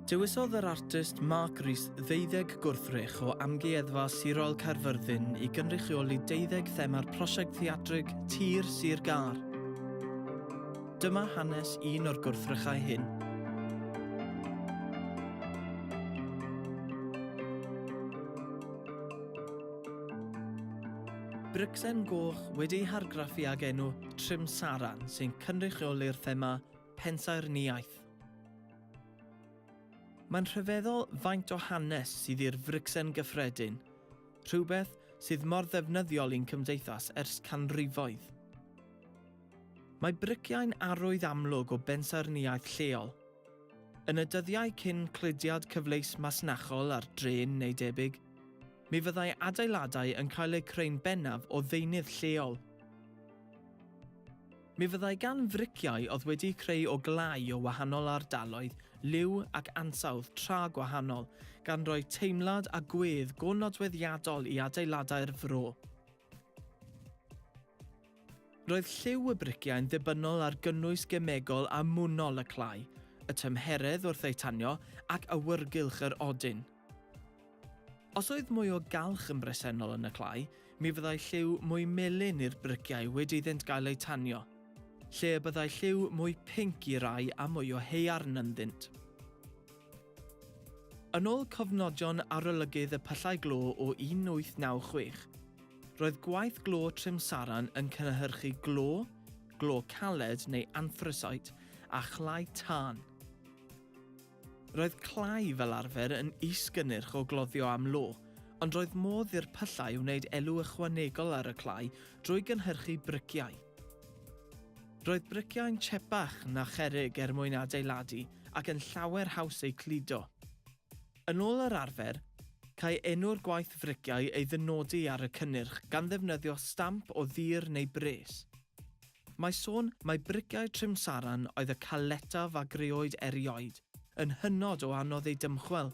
Dewisodd yr artist Mark Rees ddeuddeg gwrthrych o Amgueddfa Sirol Caerfyrddin i gynrychioli deuddeg thema'r prosiect theatrig Tir Sir Gâr. Dyma hanes un o'r gwrthrychau hyn. Bricsen goch wedi'i hargraffu ag enw Trimsaran sy'n cynrychioli'r thema pensaernïaeth. Mae'n rhyfeddol faint o hanes sydd i'r fricsen gyffredin, rhywbeth sydd mor ddefnyddiol i'n cymdeithas ers canrifoedd. Mae briciau'n arwydd amlwg o bensaernïaeth lleol. Yn y dyddiau cyn cludiad cyfleus masnachol ar drên neu debyg, Mi fyddai adeiladau yn cael eu creu'n bennaf o ddeunydd lleol. Mi fyddai gan friciau oedd wedi'u creu o glai o wahanol ardaloedd, liw ac ansawdd tra gwahanol, gan roi teimlad a gwedd go nodweddiadol i adeiladau'r fro. Roedd lliw y briciau yn ddibynnol ar gynnwys gemegol a mwynol y clai, y tymheredd wrth eu tanio ac awyrgylch yr odyn. Os oedd mwy o galch yn bresennol yn y clai, mi fyddai lliw mwy melyn i'r briciau wedi iddynt gael eu tanio, lle y byddai lliw mwy pinc i rai a mwy o haearn ynddynt. Yn ôl cofnodion arolygydd y pyllau glo o 1896, roedd gwaith glo Trimsaran yn cynhyrchu glo, glo caled neu anthrasite, a chlai tân. Roedd clai fel arfer yn is-gynnyrch o gloddio am lo, ond roedd modd i'r pyllau wneud elw ychwanegol ar y clai drwy gynhyrchu briciau. Roedd briciau'n chepach na cherrig er mwyn adeiladu ac yn llawer haws eu cludo. Yn ôl yr arfer, câi enw'r gwaith friciau ei ddynodi ar y cynnyrch gan ddefnyddio stamp o ddur neu bres. Mae sôn mai briciau Trimsaran oedd y caletaf a greoed erioed, yn hynod o anodd eu dymchwel.